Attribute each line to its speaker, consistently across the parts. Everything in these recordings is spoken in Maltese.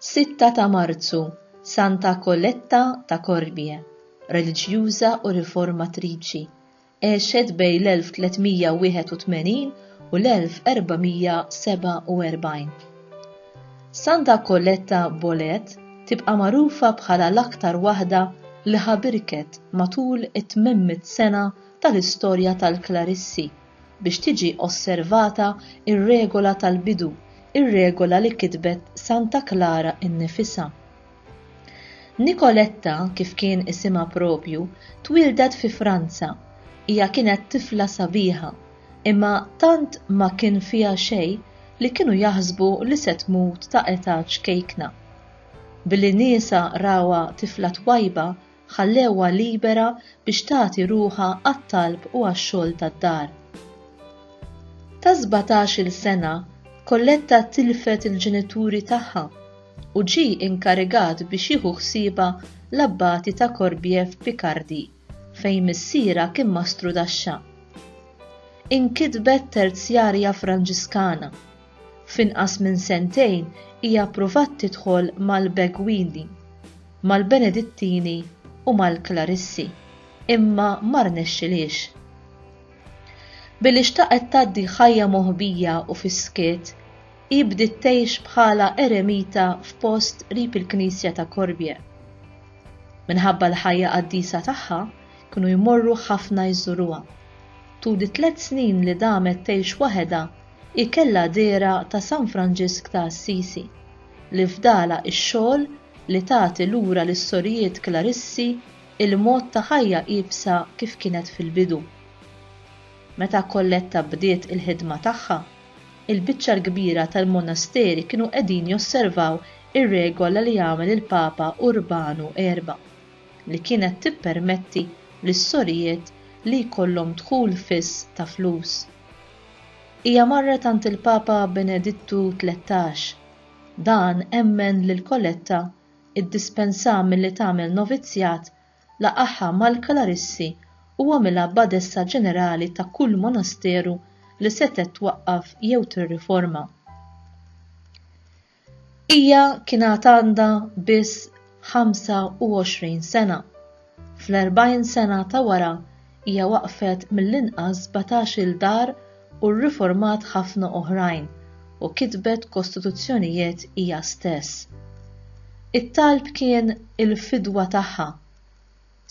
Speaker 1: Sitta ta' Marzu, Santa Koletta ta' Korbie, reliġjuża u riformatriċi, Għexet bejn l-1381 u l-1447. Santa Colletta Bolet tibqa' magħrufa bħala l-aktar waħda li ħabirket matul it-800 sena tal-istorja tal-Klarissi biex tiġi osservata r-regola tal-bidu, ir-regola li kitbet Santa Klara nnifisha. Nicoletta, kif kien isimha proprju, twieldet fi Franza. Hija kienet tifla sabiħa, imma tant ma kien fiha xejn li kienu jaħsbu li se tmut ta' età ċkejkna. Billi niesha rawha tifla twajba ħallewha libera biex tagħti ruħha għat-talb u għax-xogħol tad-dar. Ta' sbatax-il sena, Colletta tilfet il-ġenituri tagħha u ġie inkarigat biex jieħu ħsiebha l-abbati ta' Corbière f'Picardy, fejn missierha kien mastru taxxa. Inkitbet terzjarja Franġiskana, F'inqas minn sentejn hija ppruvat tidħol mal-Beguini, mal-Benedittini u mal-Klarissi, imma ma rnexxilhiex. Billi xtaqet tgħaddi ħajja moħbija u fis-skiet, hi bdiet tgħix bħala eremita f'post qrib il-knisja ta' Corbière. Minħabba l-ħajja qaddisa tagħha, kienu jmorru ħafna jżuruha. Tul it-tliet snin li damet tgħix waħedha Hi kellha dehra ta' San Franġisk ta' Assisi, li fdalha x-xogħol li tagħti lura lis-sorijiet Klarissi l-mod ta' ħajja iebsa kif kienet fil-bidu. Meta Colletta bdiet il-ħidma tagħha, il-biċċa l-kbira tal-monasteri kienu qegħdin josservaw ir-regola li għamel il-Papa Urbanu Erba', li kienet tippermetti lis-sorijiet li jkollhom dħul fiss ta' flus. Hija marret għand il-Papa Benedittu Tlettax. Dan emmen lil Coletta, iddispensha milli tagħmel novizzjat, laqagħha mal-klarissi u għamilha badessa ġenerali ta' kull monasteru li setgħet twaqqaf jew tirriforma. Hija kien għad għandha biss 25 sena. Fl-40 sena ta' wara hija waqqfet mill-inqas sbatax-il dar u rriformat ħafna oħrajn u kitbet kostituzzjonijiet hija stess. It-talb kien il-fidwa tagħha.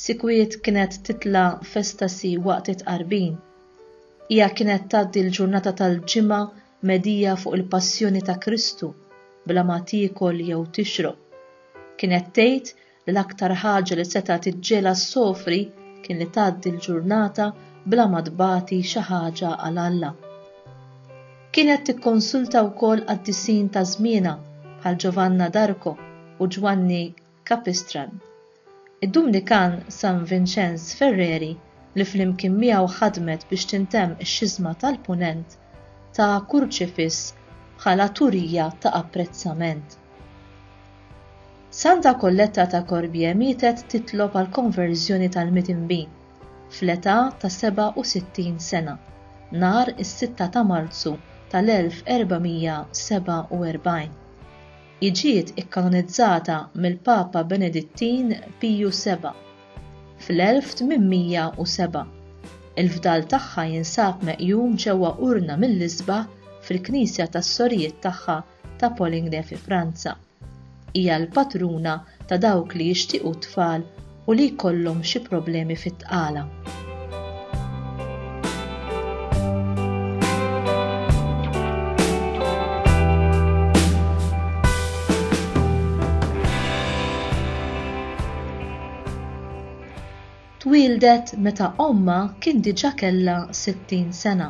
Speaker 1: Sikwit kienet titla' f'estasi waqt it-tqarbin. Hija kienet tgħaddi l-ġurnata tal-Ġimgħa Medija fuq il-passjoni ta' Kristu bla ma tiekol jew tixrob. Kienet tgħid li l-aktar ħaġa li setgħet iġġielha ssofri kien li tgħaddi l-ġurnata bla ma tbati xi ħaġa għal Alla. Kienet tikkonsulta wkoll qaddisin ta' żmienha bħal Ġovanna d'Arco u Ġwanni Capistran. Id-Dumnikan San Vinċenz Ferreri li flimkien miegħu ħadmet biex tintemm ix-Xiżma tal-Punent, ta kurċifiss bħala turija ta' apprezzament. Santa Colletta ta' Corbie mietet titlob għall-konverżjoni tal-midinbin, fl-età ta' 67 sena, nhar is-sitta ta' Marzu tal-1447. Hi ġiet ikkanonizzata mill-Papa Benedittin Piju Seba' fl-1807. Il-fdal tagħha jinsab meqjum ġewwa urna mill-isbaħ fil-knisja tas-sorijiet tagħha ta' Poligny fi Franza. Hija l-patruna ta' dawk li jixtiequ t-tfal u li jkollhom xi problemi fit-tqala. Twieldet meta ommha kien diġà kellha 60 sena.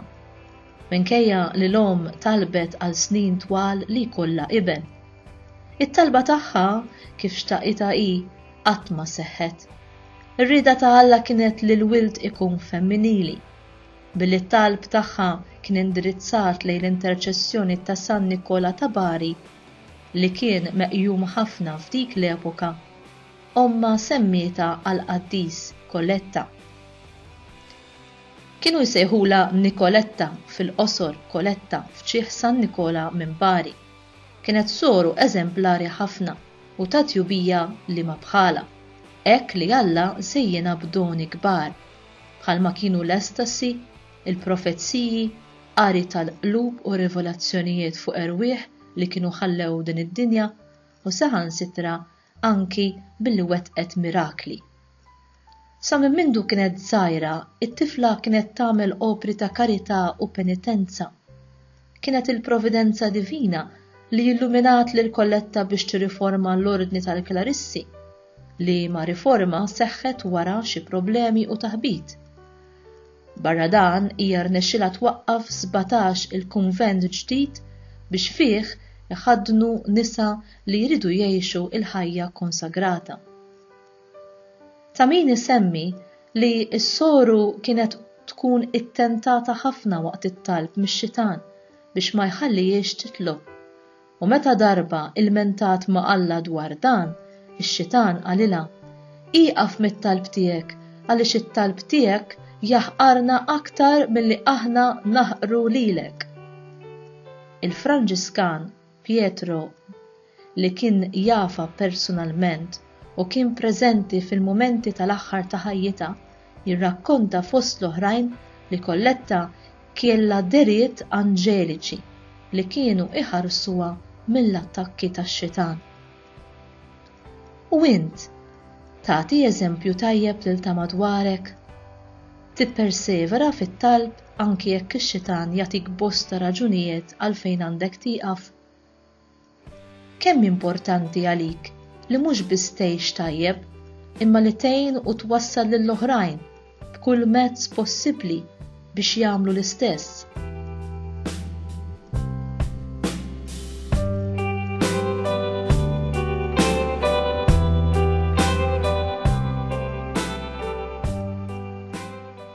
Speaker 1: Minkejja li l-omm talbet għal snin twal li jkollha iben. It-talba tagħha kif xtaqitha hi qatt ma seħħet. Ir-rieda ta' Alla kienet li l-wild ikun femminili. Billi t-talb tagħha kien indirizzat lejn l-interċessjoni ta' San Nikola ta' Bari, li kien meqjum ħafna f'dik l-epoka, ommha semmietha għall-qaddis Koletta. Kienu jsejħulha Nikoletta fil-qosor Koletta f'ċieħ San Nikola minn Bari. Kienet soru eżemplari ħafna. u ta' tjubija li ma bħalha, hekk li Alla żejjinha b'doni kbar, bħalma kienu l-estasi, il-profeziji, qari tal-qlub u rivelazzjonijiet fuq erwieħ li kienu ħallew din id-dinja, u saħansitra anki billi wettqet mirakli Sa minn mindu kienet żgħira, it-tifla kienet tagħmel opri ta' karità u penitenza. Kienet il-providenza divina li illuminat lil Colletta biex tirriforma l-Ordni tal-Klarissi, liema riforma seħħet wara xi problemi u taħbit. Barra dan, hija rnexxilha twaqqaf sbatax il-kunvent ġdid biex fih iħaddnu nisa li jridu jgħixu l-ħajja konsagrata. Ta' min isemmi li s-soru kienet tkun ittentata ħafna waqt it-talb mix-xitan biex ma jħallihiex titlob. U meta darba ilmentat ma' Alla dwar dan, ix-xitan qalilha, Ieqaf mit-talb tiegħek għaliex it-talb tiegħek jaħqarna aktar milli aħna naħqru lilek. Il-Franġiskan Pietro, li kien jafha persunalment u kien preżenti fil-mumenti tal-aħħar ta' ħajjitha, jirrakkonta fost l-oħrajn li Colletta kielha dehriet anġeliċi li kienu iħarsuha mill-attakki tax-xitan. U int, tagħti eżempju tajjeb lil ta' madwarek? Tippersevera fit-talb anki jekk ix-xitan jagħtik bosta raġunijiet għalfejn għandek tieqaf? Kemm importanti għalik li mhux biss tgħix tajjeb, imma li tgħin u twassal lil oħrajn b'kull mezz possibbli biex jagħmlu l-istess.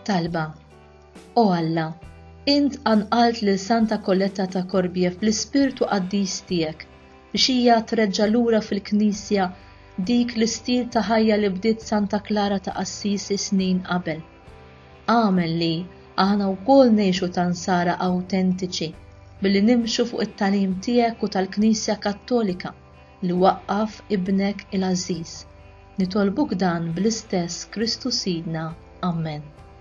Speaker 1: Talba O Alla, int anqalt lil Santa Kolletta ta' Korbiev bl-ispirtu qaddis tiegħek biex hija treġġa' lura fil-Knisja Dik l-istil ta' ħajja li bdiet Santa Klara ta' Assisi snin qabel, għamel li aħna wkoll ngħixu ta' Nsara awtentiċi billi nimxu fuq it-tagħlim tiegħek u tal-Knisja Kattolika li waqqaf Ibnek il-għażiż. Nitolbuk dan bl-istess Kristu Sidna. Ammen.